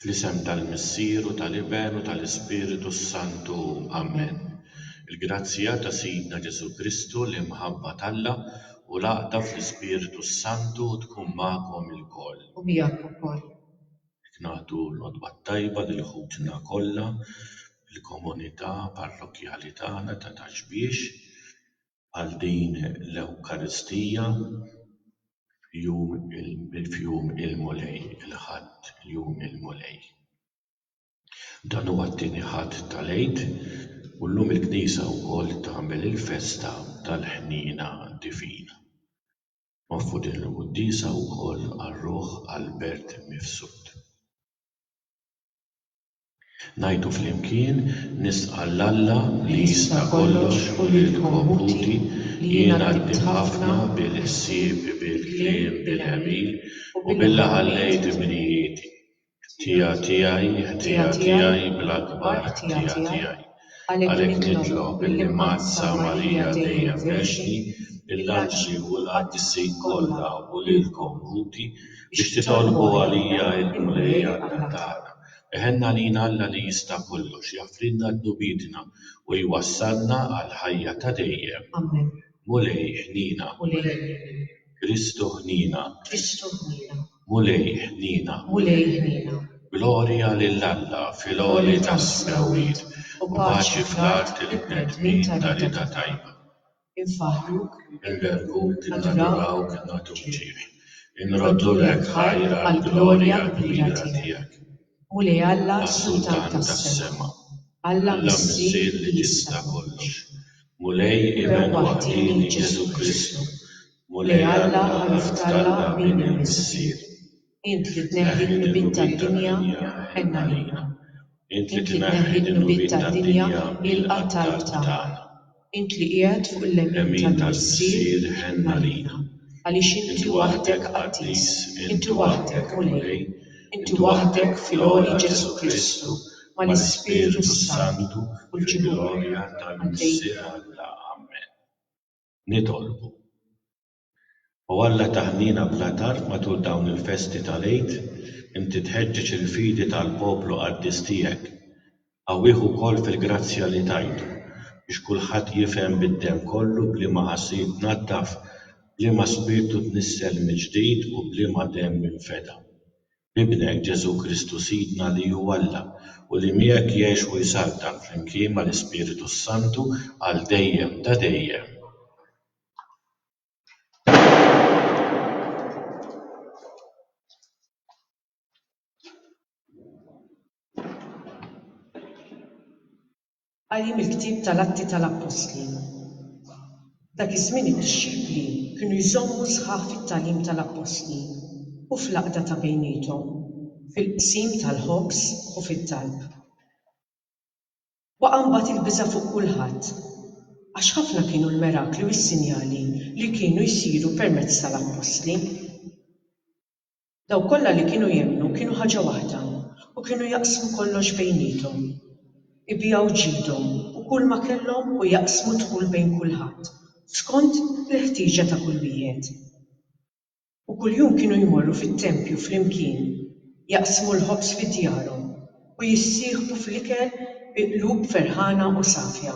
Fl-isem tal-Missier u tal-Iben u tal-Ispiritu s-Santu, amen. Il-grazzja ta' Sidna Ġesù Kristu, l-imħabba t'Alla, u l-għaqda fl-Ispiritu s-Santu tkun magħkom ilkoll. U miegħek ukoll. Jekk nagħtu l-Għodwa t-Tajba lil ħutna kollha fil-komunità parrokkjali tagħna ta' Taxbiex, għal din l-Ewkaristija f'jum il-Mulej, il-Ħadd, jum il-Mulej. Dan huwa t-tieni Ħadd tal-Għid u llum il-Knisja wkoll tagħmel il-festa tal-Ħniena Divina. Noffru din il-quddiesa wkoll għar-ruħ Albert Mifsud. Ngħidu flimkien, Nisqa' 'l Alla li jista' kollox u lil komputi li jiena ddibt ħafna bil-ħsieb, bil-kliem, bil-għemil u billi ħallejt imnijieti. Ħtija tiegħi, ħtija tiegħi, bl-akbar ħtija tiegħi. Għalhekk nitlob illi mgħadd sa Marija dejjem Verġni, lill-anġli u l-qaddisin kollha u lilkom Ħuti, biex titolbu għalija il-Mulej Alla tagħna. Iħenn għalina Alla li jista' kollox, jaħfrilna dnubietna u jwassalna għall-ħajja ta' dejjem. Mulej ħniena. Kristu ħniena. Mulej ħniena, Mulej ħniena. Glorja lil Alla fil-għoli tas-smewwiet, u paċi fl-art lill-bnedmin ta' rieda tajba. Infaħħruk, inberbhuk, innadurawk, innagħtuk ġieħ, inroddulek ħajr għall-glorja l-kbira tiegħek. Mulej Alla s-Sultan tas-sema, Alla Missier li tista' kollox, Mulej Iben waħdieni Ġesù Kristu, Mulej Alla ħalef t'Alla min hu l-Missier. Int li tneħħi d-dnubiet tad-dinja, ħenn għalina. Int li tneħħi d-dnubiet tad-dinja, ilqa' t-talb tagħna. Int li qiegħed fuq il-lemin tal-Missier, ħenn għalina. Għaliex Inti waħdek qaddis, Inti waħdek Mulej. Inti waħdek fil-għoli Ġesù Kristu, mal-Ispirtu s-Santu, fil-glorja tal-Missier Alla. Amen. Nitolbu. O Alla ta' ħniena bla tarf matul dawn il-festi tal-Għid Inti tħeġġeġ il-fidi tal-poplu qaddis tiegħek. Qawwih ukoll fil-grazzja li tajtu biex kulħadd jifhem bid-demm kollu b'liema ħasil tnaddaf, b'liema spirtu tnissel mill-ġdid u b'liema demm infeda. B'Ibnek, Ġesù Kristu Sidna li hu Alla, u li miegħek jgħix u jsaltan flimkien mal-Ispiritu s-Santu għal dejjem ta' dejjem. Qari mill-ktieb tal-Atti tal-Appostli. Dak iż-żmien id-dixxipli kienu jżommu sħaħ fit-tagħlim tal-appostli u fl-għaqda ta' bejniethom, fil-qsim tal-ħobż u fit-talb. Waqa' mbagħad il-biża' fuq kulħadd, għax ħafna kienu l-mirakli u s-sinjali li kienu jsiru permezz tal-appostli. Dawk kollha li kienu jemmnu kienu ħaġa waħda u kienu jaqsmu kollox bejniethom. Ibigħu ġidhom u kulma kellhom u jaqsmu d-dħul bejn kulħadd, skont il-ħtieġa ta' kull wieħed. U kuljum kienu jmorru fit-tempju flimkien, jaqsmu l-ħobż fi djarhom u jissieħbu fl-ikel bi qlub ferħana u safja.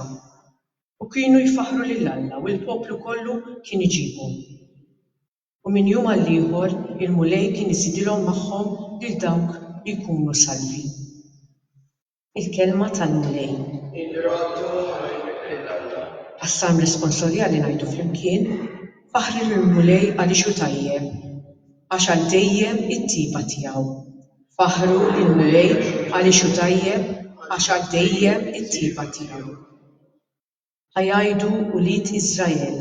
U kienu jfaħħru lil Alla u l-poplu kollu kien iġibhom. U minn jum għall-ieħor il-Mulej kien iżidilhom magħhom lil dawk li jkunu salvi. Il-Kelma tal-Mulej. Għas-Salm Responsorjali ngħidu flimkien, Faħħru lill-Mulej għaliex hu tajjeb, għax għal dejjem it-tjieba tiegħu. Faħħru lill-Mulej għaliex hu tajjeb, għax għal dejjem it-tjieba tiegħu. Ħa jgħidu ulied Israel,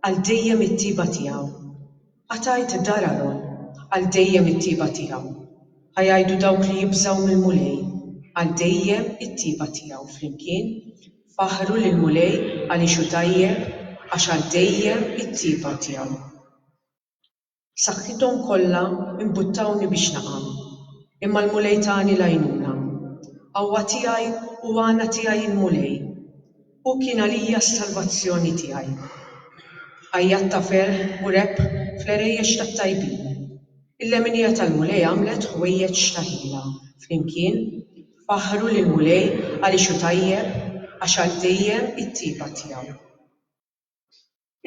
Għal dejjem it-tjieba tiegħu. Ħa tgħid dar Għaron, Għal dejjem it-tjieba tiegħu. Ħa jgħidu dawk li jibżgħu mill-Mulej, Għal dejjem it-tjieba tiegħu. Flimkien, faħħru lill-Mulej għaliex hu tajjeb, Għax għal dejjem it-tjieba tiegħu. Saħħithom kollha imbuttawni biex naqa', imma l-Mulej tani l-għajnuna. Qawwa tiegħi u għana tiegħi il-Mulej. Hu kien għalija s-salvazzjoni tiegħi. Għajjat ta' ferħ u rebħ fl-għerejjex tat-tajbin. Il-leminija tal-Mulej għamlet ħwejjeġ xtaħila flimkien. Faħħru lill-Mulej għaliex hu tajjeb, għax għal dejjem it-tjieba tiegħu.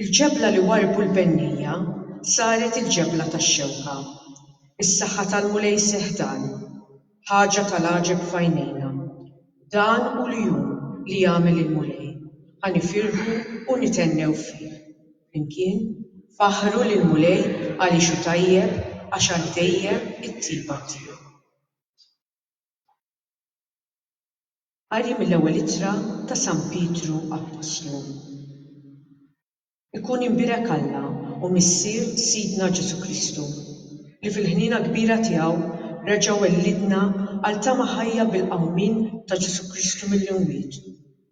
Il-ġebla li warrbu l-bennija saret il-ġebla tax-xewka. Is-saħħa tal-Mulej Sehdan, ħaġa tal-għaġeb f'għajnejna. Dan hu l-jum li għamel il-Mulej, ħa nifirħu u nithennew fih. Flimkien, faħħru lill-Mulej għaliex hu tajjeb, għax għal dejjem it-tjieba tiegħu. Qari mill-Ewwel Ittra ta' San Pietru Appostlu Ikun imbierek Alla u Missier Sidna Ġesù Kristu, li fil-ħniena kbira tiegħu reġa' wellidna għal tama ħajja bil-qawmien ta' Ġesù Kristu mill-imwiet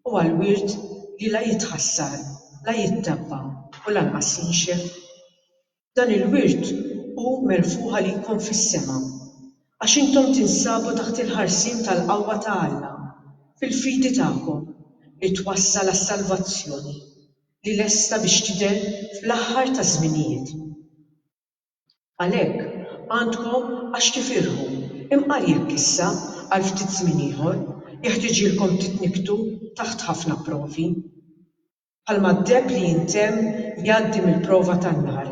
u għal wirt li la jitħassar, la jittebba u lanqas jinxef. Dan il-wirt hu merfugħ għalikom fis-sema, għax intom tinsabu taħt il-ħarsien tal-qawwa ta' Alla, fil-fidi tagħkom, li twassal għas-salvazzjoni, li lesta biex tidher fl-aħħar taż-żminijiet. Għalhekk, għandkom għax tifirħu, imqar jekk issa, għal ftit żmien ieħor, jeħtiġilkom titnikktu taħt ħafna provi. Bħalma d-deheb li jintemm jgħaddi mill-prova tan-nar,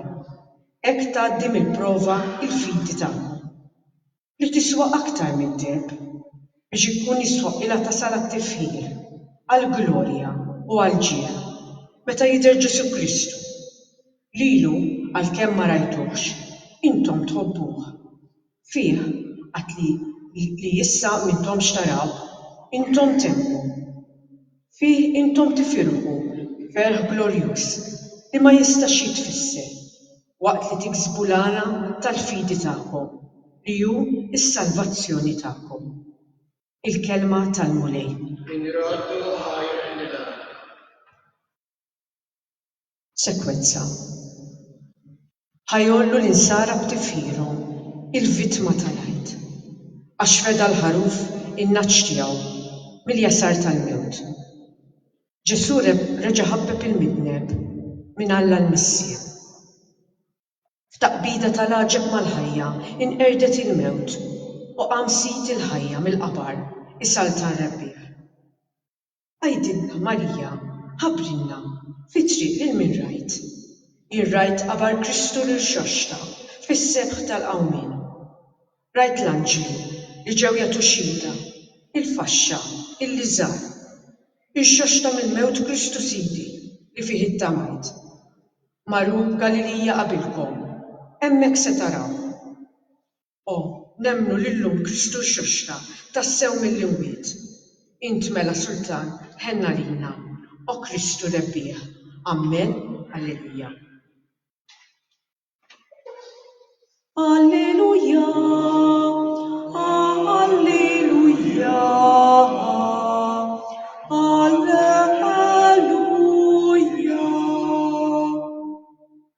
hekk tgħaddi mill-prova l-fidi tagħkom, li tiswa aktar mid-deheb, biex ikun jistħoqqilha tasal għat-tifħir, għall-glorja u għall-ġieħ, meta jidher Ġesù Kristu. Lilu, għalkemm ma rajtuhx, intom tħobbuh. Fih għad li li issa m'intomx taraw, intom temmu. Fih intom tifirħu ferħ glorjuż li ma jistax jitfisser, waqt li tiksbu l-għana tal-fidi tagħkom, li hu s-salvazzjoni tagħkom. Il-Kelma tal-Mulej. Inroddu ħajr nidhar. Sekwezza. Ħa jgħollu l-insara b'tifħirhom, il-vittma tal-Għid. Għax feda l-ħaruf in-nagħaġ tiegħu mill-jasar tal-mewt. Ġesù reġa' ħabbeb il-midneb minn Alla l-Missier. F'taqbida tal-għaġeb mal-ħajja inqerdet il-mewt u qam Sid il-ħajja mill-qabar, isaltan Rebbiegħ. Għidilna, Marija, ħabrilna, fit-triq lil min rajt? Jien rajt qabar Kristu rirxoxta fis-sebħ tal-qawmien. Rajt l-anġlu li ġew jagħtu xhieda, il-faxxa, il-liżar. Irxoxta mill-mewt Kristu Sidi li fih ittamajt. Maru b'Galilija qabilkom, hemmhekk se taraw. O, nemmnu li llum Kristu rxoxta tassew mill-imwiet. Int mela Sultan, ħenn għalina, O Kristu rebbieħ. Ammen. Alleluja. Alleluja, alleluja, alleluja.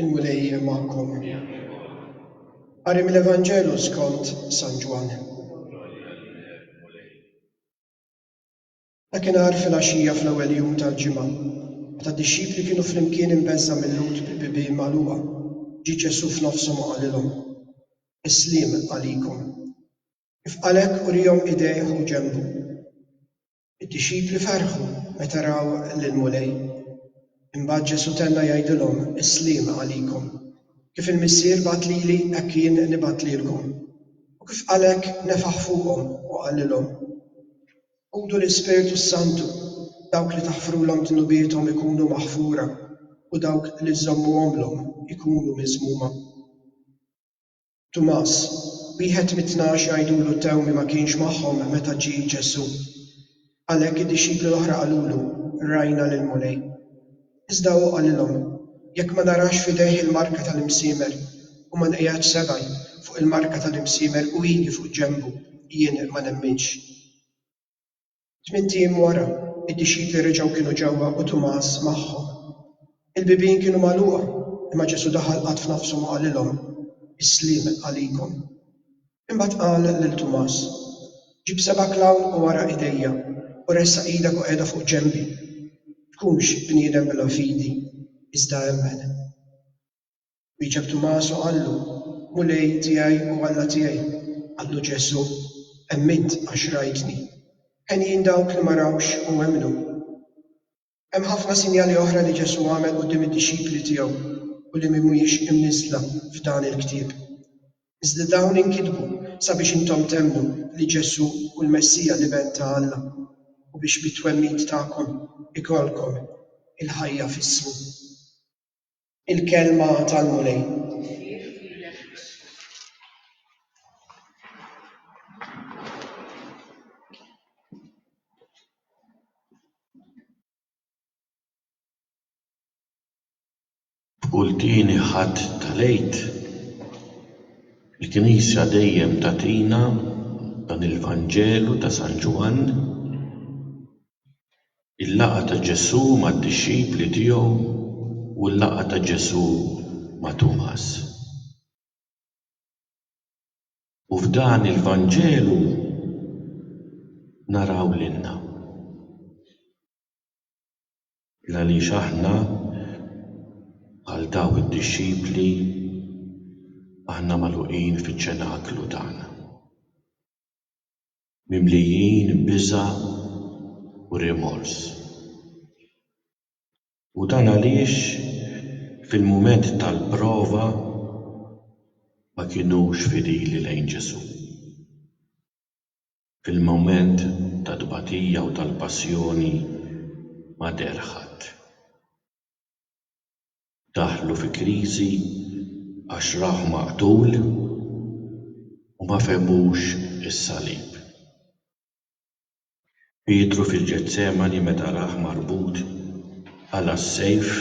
Il-Mulej magħkom. Qari mill-Evanġelu skont San Ġwann. Dakinhar fil-għaxija fl-ewwel jum tal-ġimgħa, meta d-dixxipli kienu flimkien imbeżża' mill-Lhud bil-bibien magħluqa, ġie Ġesù f'nofshom u qalilhom, Is-sliem għalikom. Kif qalek, urihom idejh u ġenbu. Id-dixxipli ferħu meta raw lill-Mulej. Imbagħad Ġesù tenna jgħidilhom, Is-sliem għalikom. Kif il-Missier bagħat lili, hekk jien nibgħat lilkom. U kif qalek, nefaħ fuqhom u qalilhom, Ħudu l-Ispirtu s-Santu, dawk li taħfrulhom dnubiethom ikunu maħfura u dawk li żżommuhomlhom ikunu miżmuma. Tumas, wieħed mit-tnax jgħidulu Tewmi ma kienx magħhom meta ġie Ġesù. Għalhekk id-dixxipli l-oħra qalulu, Rajna lill-Mulej. Iżda hu qalilhom, Jekk ma narax f'idejh il-marka tal-imsiemer u ma nqiegħedx sebgħi fuq il-marka tal-imsiemer u idi fuq ġenbu, jien ma nemminx. Tmint ijiem wara, id-dixxipli reġgħu kienu ġewwa u Tumas magħhom. Il-bibien kienu magħluqa, imma Ġesù daħal qatt f'nafshom u qalilhom, Is-sliem għalikom. Imbagħad qal lil Tumas, Ġib sebgħek 'l hawn u ara idejja, u ressaq idek u qiegħda fuq ġenbi. Tkunx bniedem bla fidi, iżda emmen. Wieġeb Tumas u qallu, Mulej tiegħi u Alla tiegħi! Qallu Ġesù, Emmint għax rajtni. Henjin dawk li ma rawx u emmnu. Hemm ħafna sinjali oħra li Ġesù għamel quddiem id-dixxipli tiegħu u li mhumiex imniżżla f'dan il-ktieb. Iżda dawn inkitbu sabiex intom temmnu li Ġesù hu l-Messija l-Iben ta' Alla u biex bit-twemmin tagħkom ikollkom il-ħajja f'ismu. Il-Kelma tal-Mulej. B'kull tieni Ħadd tal-Għid, il-Knisja dejjem tagħtina dan il-Vanġelu ta' San Ġwann. Il-laqgħa ta' Ġesù mad-dixxipli tiegħu u l-laqgħa ta' Ġesù ma' Tumas. U f'dan il-Vanġelu naraw lilna. Il għaliex aħna bħal daw id-dixxipli aħna magħluqin fiċ-ċenaklu tagħna. mimlijin biża' u rimors. U dan għaliex fil-mument tal-prova ma kinux fidili lejn Ġesù. Fil-mument tat-tbatija u tal-passjoni ma deher ħadd. daħlu fi kriżi għax rawh maqtul u ma fehmux is-salib. Pietru fil-Ġetsemani meta rah marbut qala' s-sejf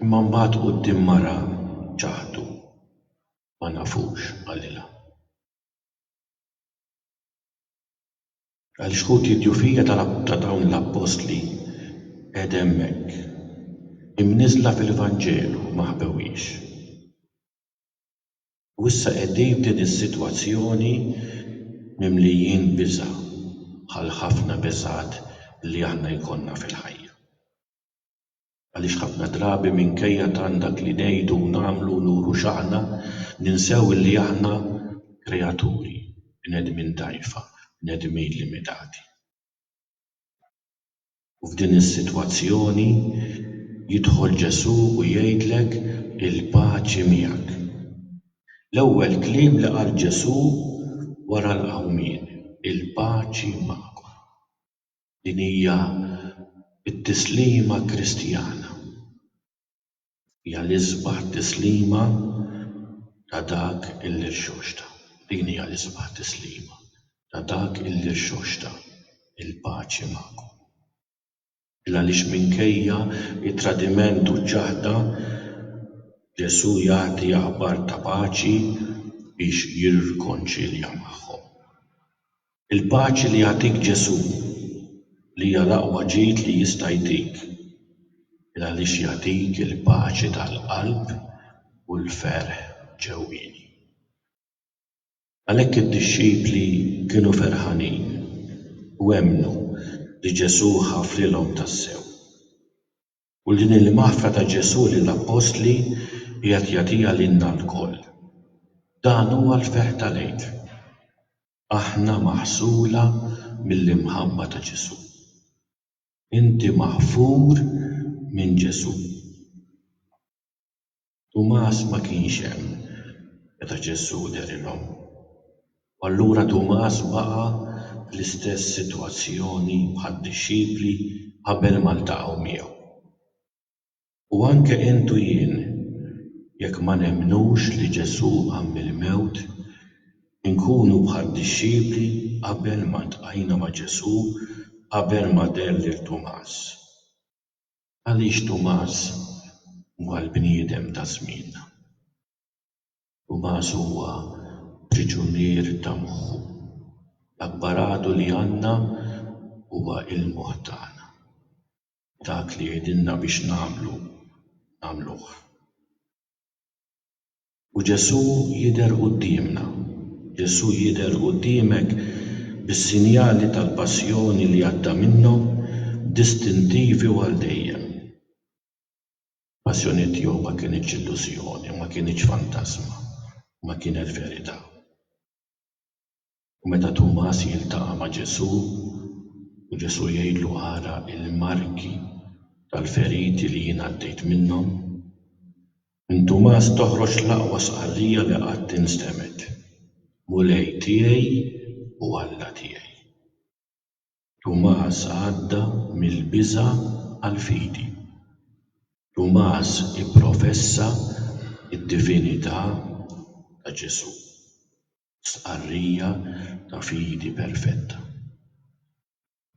imma mbagħad quddiem mara ċaħdu ma nafux qalilha. Għal xhud id-djufija ta' dawn l-appostli qegħda hemmhekk, imniżżla fil-Vanġelu, ma ħbewhiex. U issa qegħdin f'din is-sitwazzjoni mimlijin biża' bħall-ħafna biżgħat li aħna jkollna fil-ħajja. Għaliex ħafna drabi minkejja tant dak li ngħidu u nagħmlu u nuru x'aħna, ninsew illi aħna kreaturi, bnedmin dgħajfa, bnedmin limitati. U f'din is-sitwazzjoni jidħol Ġesù u jgħidlek, Il-paċi miegħek. L-ewwel kliem li qal Ġesù wara l-qawmien, Il-paċi magħkom. Din hija t-tislima Kristjana. Hija l-isbaħ tislima ta' dak illi rxoxta. Din hija l-isbaħ tislima ta' dak illi rxoxta, il-paċi magħkom. L-għaliex minkejja t-tradiment u ċ-ċaħda, Ġesù jagħti aħbar ta' paċi biex jirrkonċilja magħhom. Il-paċi li jagħtik Ġesù, li hija l-aqwa ġid li jista' jtik, il għaliex jagħtik il-paċi tal-qalb u l-ferħ ġewwieni. Għalhekk id-dixxipli kienu ferħanin u emmnu li Ġesù ħafrilhom tassew. U din hi l-maħfra ta' Ġesù lill-appostli qiegħed jagħtiha lilna lkoll. Dan huwa l-ferħ tal-Għid. Aħna maħsula mill-imħabba ta' Ġesù. Inti maħfur minn Ġesù. Tumas ma kienx hemm meta Ġesù dehrilhom. U allura Tumas baqa' fl-istess sitwazzjoni bħad-dixxipli qabel ma ltaqgħu miegħu. U anke int u jien, jekk ma nemmnux li Ġesù qam mill-mewt, inkunu bħad-dixxipli qabel ma ltqajna ma' Ġesù, qabel ma deher lil Tumas. Għaliex Tumas huwa l-bniedem ta' żmienna? Tumas huwa priġunier ta' moħħu. L-apparatu li għandna huwa l-moħħ tagħna. dak li jgħidilna biex nagħmlu nagħmluh. U Ġesù jidher quddiemna. Ġesù jidher quddiemek bis-sinjali tal-passjoni li għadda minnhom distintivi u għal dejjem. Passjoni tiegħu ma kinitx illużjoni, ma kinitx fantasma, ma kienet verità. U meta Tumas jiltaqa' ma' Ġesù, u Ġesù jgħidlu ara l-marki tal-feriti li jien għaddejt minnhom, minn Tumas toħroġ l-aqwa stqarrija li qatt instemgħet, Mulej tiegħi u Alla tiegħi. Tumas għadda mill-biża' għall-fidi. Tumas ipprofessa d-divinità ta' Ġesù. stqarrija ta' fidi perfetta.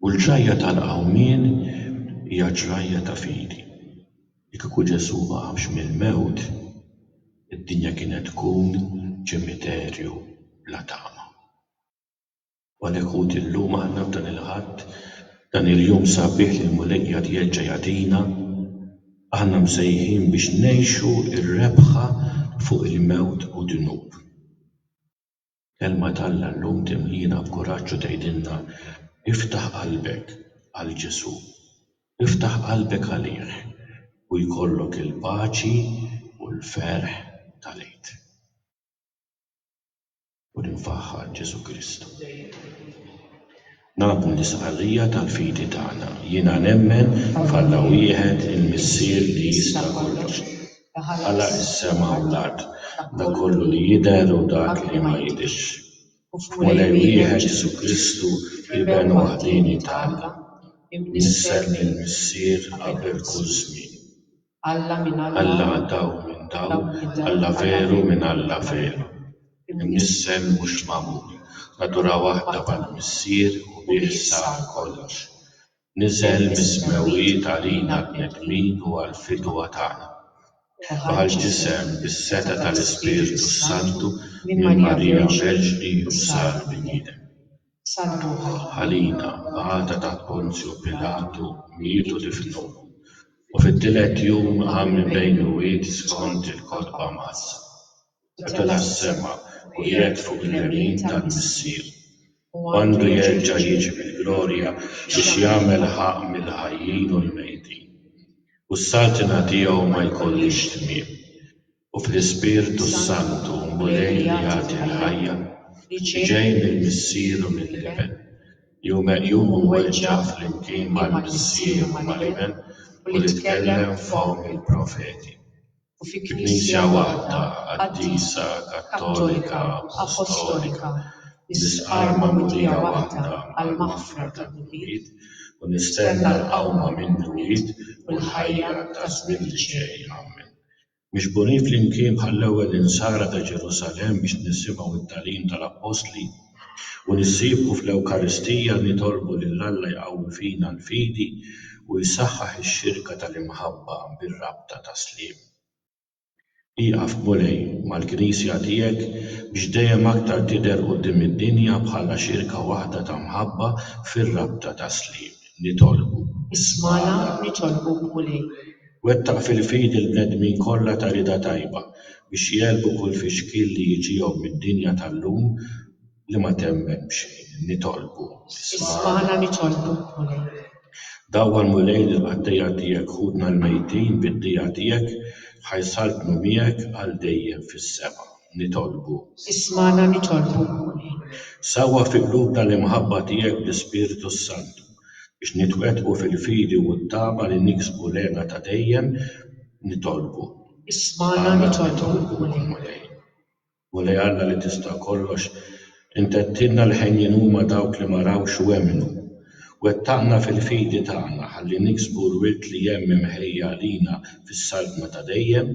U l-ġrajja tal-qawmien hija ġrajja ta' fidi. Li kieku Ġesù ma qamx mill-mewt, id-dinja kienet tkun ċimiterju bla tama. Għalhekk Ħuti llum aħna f'dan il-Ħadd, dan il-jum sabiħ li l-Mulej qiegħed jerġa' jagħtina, aħna msejħin biex ngħixu r-rebħa fuq il-mewt u d-dnub. Kelma t'Alla llum timliena b'kuraġġ u tgħidilna, Iftaħ qalbek għal Ġesù, iftaħ qalbek għalih u jkollok il-paċi u l-ferħ tal-Għid. u li nfaħħar Ġesù Kristu. Nagħmlu l-istqarrija tal-fidi tagħna, Jiena nemmen f'Alla wieħed, il-Missier li jista' kollox, li ħalaq is-sema u l-art, dak kollu li jidher u dak li ma jidhirx, u f'Mulej wieħed Ġesù Kristu, Iben waħdieni ta' Alla, imnissel mill-Missier qabel kull żmien. Alla daw minn daw, Alla veru minn Alla veru, imnissel mhux magħmul, natura waħda mal-Missier u bih sar kollox. Niżel mis-smewwiet għalina l-bnedmin u għall-fidwa tagħna. Bħal ġisem bis-setgħa tal-Ispirtu s-Santu minn Marija Verġni u sar bniedem. salvuha. Għalina, b'għada ta' Ponzju Pilatu, mietu difnuh, u fit-tielet jum qam minn bejn il-mwiet skont il-kotba mqaddsa. Tela' s-sema u qiegħed fuq il-lemin tal-Missier. Hu għandu jerġa' jiġi bil-glorja biex jagħmel ħaqq mill-ħajjin u l-mejtin. U s-saltna tiegħu ma jkollhiex tmiem. u fl-Ispirtu s-Santu l-Mulej li jagħti l-ħajja, li ġej mill-Missier u mill-Iben, li hu meqjum u mweġġa' flimkien mal-Missier u mal-Iben u li tkellem f'fomm il-profeti, u fi Knisja waħda qaddisa, kattolika, appostolika, nisqar magħmudija waħda għall-maħfra tad-dnubiet u nistenna l-qawma mill-mwiet u l-ħajja taż-żmien li ġej. Amen. Miġburin flimkien bħall-ewwel Insara ta' Ġerusalemm biex nisimgħu t-tagħlim tal-Appostli u nissieħbu fl-Ewkaristija nitolbu lil Alla jqawwi fina l-fidi u jsaħħaħ ix-xirka tal-imħabba bir-rabta tas-sliem. Ieqaf Mulej mal-Knisja tiegħek biex dejjem aktar tidher quddiem id-dinja bħala xirka waħda ta' mħabba fir-rabta tas-sliem. Nitolbuk. Ismagħna nitolbuk Mulej. Wettaq fil-fidi l-bnedmin kollha ta' rieda tajba biex jegħlbu kull fixkil li jiġihom mid-dinja tal-lum li ma temmen b'xejn. Nitolbu. Ismagħna nitolbu, Mulej. Dawwal, Mulej, lill-qaddejja tiegħek ħutna l-mejtin bid-dija tiegħek ħa jsaltnu miegħek għal dejjem fis-sema. nitolbu. Ismagħna nitolbu, Mulej. Sawwa fi qlubna l-imħabba tiegħek bl-Ispirtu s-Santu, biex nitwettqu fil-fidi u t-tama li niksbu l-hena ta' dejjem, nitolbu. Ismagħna nitolbu, Mulej. Mulej Alla li tista' kollox, Int għedtilna li ħenjin huma dawk li ma rawx u emmnu. Wettaqna fil-fidi tagħna ħalli niksbu l-wirt li hemm imħejji għalina fis-Saltna ta' dejjem,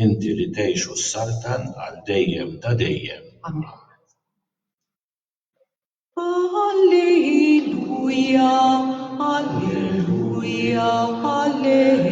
Inti li tgħix u ssaltan għal dejjem ta' dejjem. Amen. Alleluia, alleluia, alleluia.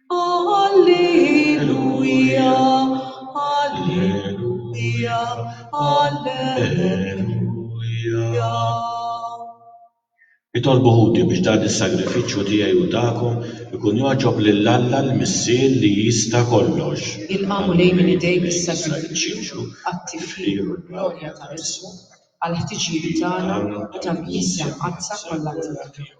Alleluia, Alleluia, Alleluia. Itolbu ħuti biex dan is-sagrifiċċju tiegħi u tagħkom ikun jogħġob lil Alla l-Missier li jista' kollox. Ilqagħu lejn minn idejk is-sagrifiċċju għat-tifħir u l-glorja ta' ismu, għall-ħtiġijiet tagħna u tal-Knisja Mqaddsa kollha tiegħek.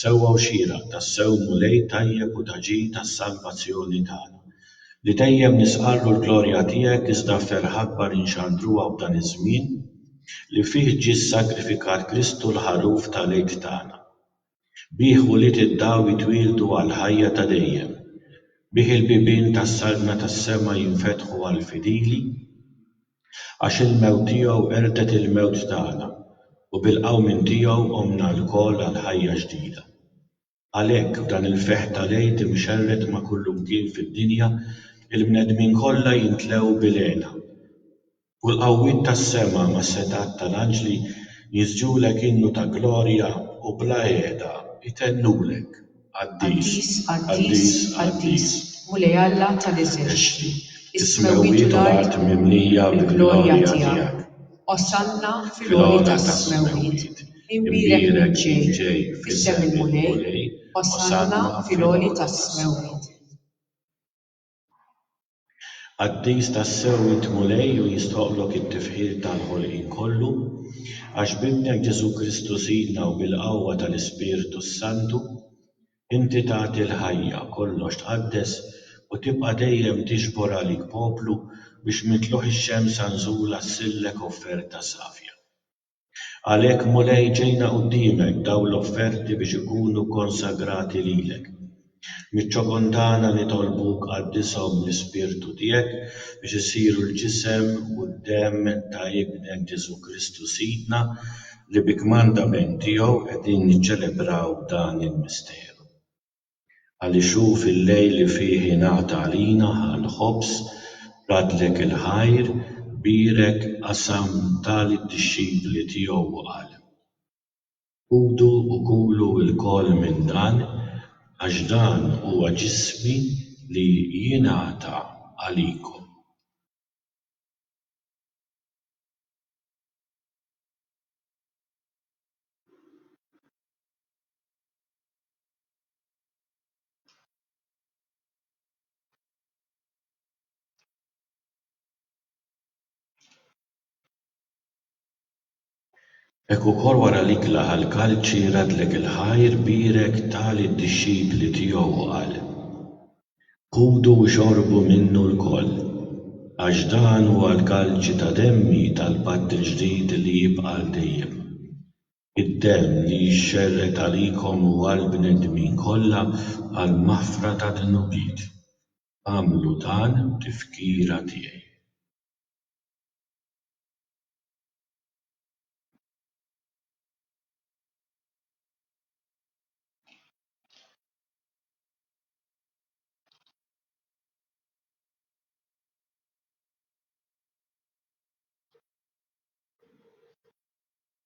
Sewwa u xieraq, tassew Mulej tajjeb u ta' ġid għas-salvazzjoni tagħna. Li dejjem nisqarru l-glorja tiegħek iżda f'ferħ akbar inxandruha f'dan iż-żmien li fih ġie ssagrifikat Kristu l-Ħaruf ta' l-Għid tagħna. Bih ulied id-dawl jitwieldu għall-ħajja ta' dejjem. Bih il-bibien tas-saltna tas-sema jinfetħu għall-fidili. Għax il-mewt tiegħu qerdet il-mewt tagħna, u bil-qawmien tiegħu qomna lkoll għal ħajja ġdida. Għalhekk, f'dan il-ferħ tal-Għid imxerred ma' kullimkien fid-dinja, il-bnedmin kollha jimtlew bil-hena, u l-qawwiet tas-sema mas-setgħat tal-anġli jiżġulek innu ta' glorja u bla heda jtennulek. Qaddis, qaddis, qaddis, Mulej Alla ta' l-eżerċti, is-smewwiet u l-art mimlija bil-glorja tiegħek. Osanna fil-għoli tas-smewwiet. Imbierek min ġej f'isem il-Mulej, osanna fil-għoli tas-smewwiet. Qaddis tassew int Mulej u jistħoqqlok it-tifħir tal-ħolqien kollu, għax b'Ibnek Ġesù Kristu Sidna u bil-qawwa tal-Ispirtu s-Santu, inti tagħti l-ħajja, kollox tqaddes u tibqa' dejjem tiġbor għalik poplu biex minn tluħ ix-xemsa nżula ssillek offerta safja. Għalhekk, Mulej, ġejna quddiemek b'dawn l-offerti biex ikunu konsagrati lilek. Miċ-ċokondana nitolbuk qaddishom bl-Ispirtu tiegħek biex isiru l-ġisem u d-demm ta' Ibnek Ġesù Kristu Sidna li bi kmandament tiegħu qegħdin niċċelebraw dan il-misteru. Għaliex hu fil-lejl li fih ingħata għalina l-ħobż, radlek il-ħajr, bierek, qasam, ta lid-dixxipli tiegħu u qal. Ħudu u kulu lkoll minn dan, għax dan huwa ġismi li jingħata għalikom. Hekk ukoll wara li kla għall-kalċi radlek il-ħajr bierek ta lid-dixxipli tiegħu u qal, Ħudu u xorbu minnu lkoll, għax dan huwa l-kalċi ta' demmi tal-patt il-ġdid li jibqa' għal dejjem. Id-demm li jixxerred għalikom u għall-bnedmin kollha għall-maħfra tad-dnubiet. Agħmlu dan b'tifkira tiegħi.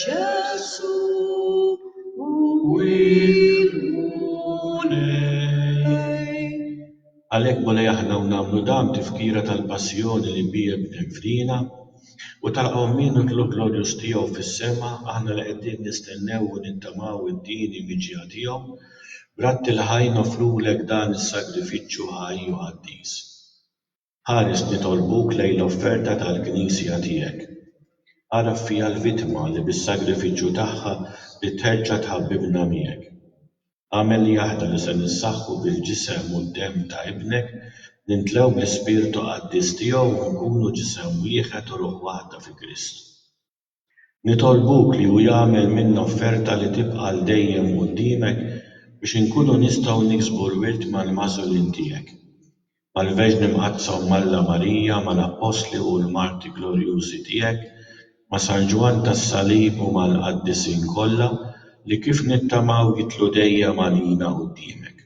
Ġesu' u l-Mulej. Għalhekk Mulej aħna hawn nagħmlu dan b'tifkira tal-passjoni li biha bniet fina u tal-qawmien u t-tlugħ glorjuż tiegħu fis-sema, aħna li qegħdin nistennew u nittamaw id-dieni miġja tiegħu, b'rabtiel ħaj noffrulek dan is-sagrifiċċju ħaj u qaddis. Ħares nitolbuk lejn l-offerta tal-Knisja tiegħek. Agħraf fija l-vittma li bis-sagrifiċċju tagħha trid terġa' tħabbibna miegħek. Agħmel li aħna li se nissaħħu bil-Ġisem u d-Demm ta' Ibnek nimtlew bl-Ispirtu Qaddis tiegħu u nkunu ġisem wieħed u ruħ waħda fi Kristu. Nitolbuk li hu jagħmel minna offerta li tibqa' għal dejjem quddiemek biex inkunu nistgħu niksbu l-wirt mal-magħżulin tiegħek. Mal-Verġni Mqaddsa Omm Alla Marija, mal-Appostli u l-martri glorjużi tiegħek, ma' San Ġwann tas-Salib u mal-qaddisin kollha li kif nittamaw jidħlu dejjem għalina quddiemek.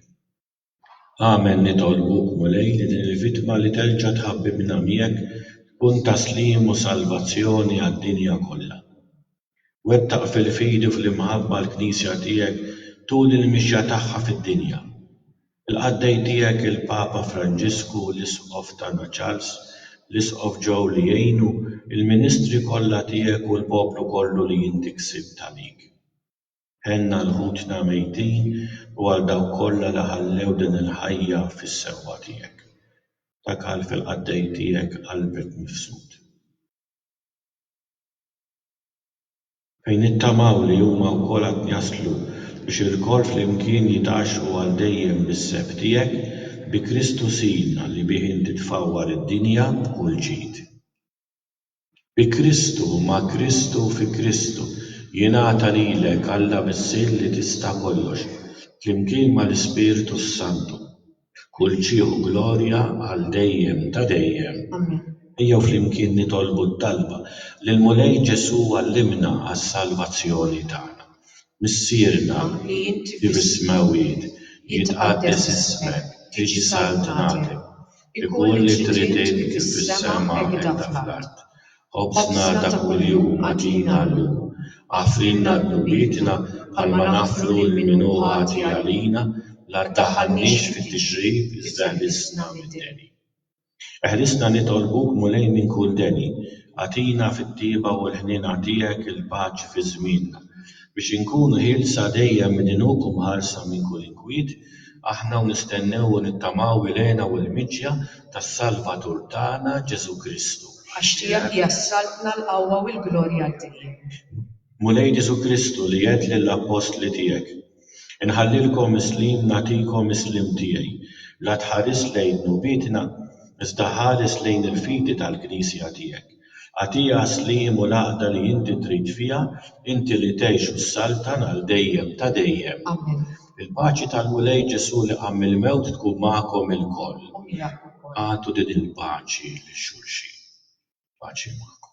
Amen Nitolbuk, Mulej, li din il-vittma li terġa' tħabbi minn għamijek tkun ta' sliem u salvazzjoni għad-dinja kollha. Wettaq fil-fidi u fl-imħabba l-Knisja tiegħek tul il-mixja tagħha fid-dinja. Il-qaddej tiegħek il-Papa Franġisku, l-Isqof tagħna Charles, l-Isqof Joe li jgħinu, il-ministri kollha tiegħek u l-poplu kollu li inti ksibt għalik. Għenna għal ħutna mejtin u għal dawk kollha li ħallew din il-ħajja fis-sewwa tiegħek. Dak qal fil-qaddej tiegħek qalbek mifsud. Fejn nittamaw li huma wkoll għad jaslu biex ilkoll flimkien jitgħaxxqu għal dejjem bis-seb tiegħek, bi Kristu Sidna li bih inti tfawwar id-dinja b'kull ġid. Bi Kristu, ma' Kristu u fi Kristu, jingħata lilek Alla Missier li tista' kollox, flimkien mal-Ispirtu s-Santu. Kull ġieħ u glorja għal dejjem ta' dejjem. Amen. Ejjew flimkien nitolbu t-talba li l-Mulej Ġesù għallimna għas-salvazzjoni tagħna. Missierna li inti fis-smewwiet, jitqaddes ismek, tiġi saltnatek. Ikun li trid int kif fis-sema hekk ta' fl-art. Ħobżna ta' kuljum agħtina llum. Aħfrilna dnubietna bħalma naħfru lil min hu ħati għalina, la ddaħħalniex fit-tixrid iżda ħlisna mid-deni. Eħlisna nitolbuk Mulej minn kull deni. Agħtina fit-tjieba u l-ħniena tiegħek il-paċi fi żmienna. biex inkunu ħielsa dejjem minn għinuk u mħarsa minn kull inkwiet, aħna u nistennew u nittamaw il-hena u l-miġja tas-Salvatur tagħna Ġesù Kristu. Għax tiegħek hija s-saltna, l-qawwa u l-glorja għal dejjem. Mulej Ġesù Kristu li għedt lill-appostli tiegħek, Inħallilkom is-sliem nagħtikom is-sliem tiegħi, la tħaris lejn dnubietna, iżda ħares lejn il-fidi tal-Knisja tiegħek, Agħtiha s-sliem u l-għaqda li inti trid fiha, inti li tgħix u ssaltan għal dejjem ta' dejjem. Amen. Il-paċi tal-Mulej Ġesù li qam mill-mewt tkun magħkom ilkoll. U miegħek ukoll. Agħtu din il-paċi lil xulxin. Il-paċi magħkom.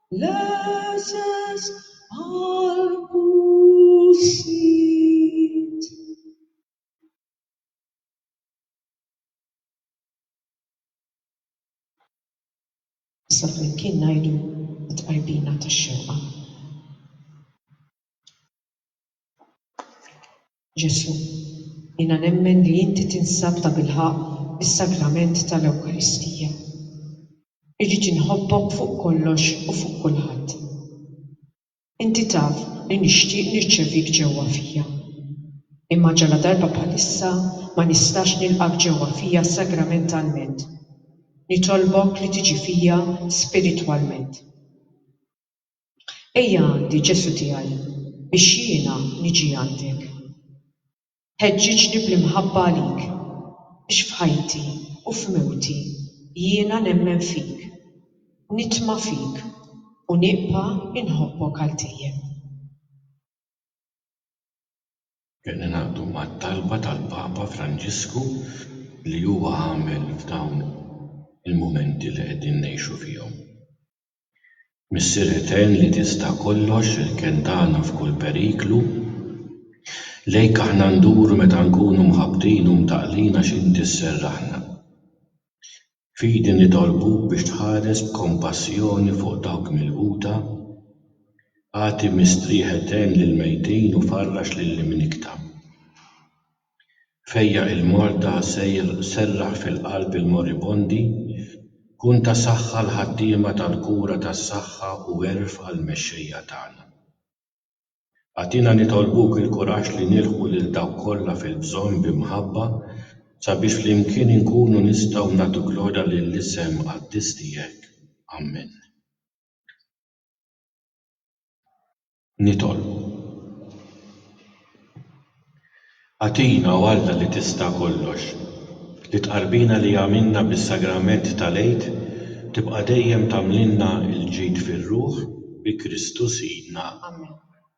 L-għeses għall-pusit. Issa flimkien ngħidu t-tqarbina tax-xewqa. Ġesù, jiena nemmen li inti tinsab tabilħaqq fis-Sagrament tal-Ewkaristija. Irrid inħobbok fuq kollox u fuq kulħadd. Inti taf li nixtieq nirċevik ġewwa fija. Imma ġaladarba bħalissa ma nistax nilqgħek ġewwa fija sagramentalment. Nitolbok li tiġi fija spiritwalment. Ejja għandi, Ġesù tiegħi, biex jiena niġi għandek. Ħeġġiġni bl-imħabba għalik, biex f'ħajti u f'mewti jiena nemmen fik, nitma' fik u nibqa' inħobbok għal dejjem. Qed ningħaqdu mat-talba tal-Papa Franġisku li huwa għamel f'dawn il-mumenti li qegħdin ngħixu fihom. Missier Etern li tista' kollox, irken tagħna f'kull periklu, lejk aħna nduru meta nkunu mħabbtin u mtaqqlin għax inti sserraħna. Fidi nitolbuk biex tħares b'kompassjoni fuq dawk milquta, agħti mistrieħ etern lill-mejtin u farrax lill-imnikkta. Fejjaq il-Malta sejr serraħ fil-qalb il-moribondi, kun ta' saħħa l-ħaddiema tal-kura tas-saħħa u għerf għall-mexxejja tagħna. Agħtina nitolbuk il-kuraġġ li nilħqu lil dawk kollha fil-bżonn bi mħabba sabiex flimkien inkunu nistgħu nagħtu glorja lill-isem qaddis tiegħek. Ammen. Nitolbu. Agħtina, o Alla li tista' kollox, li t-tqarbina li għamilna bis-Sagrament tal-Għid tibqa' dejjem tagħmlilna l-ġid fir-ruħ, bi Kristu Sidna. Amen.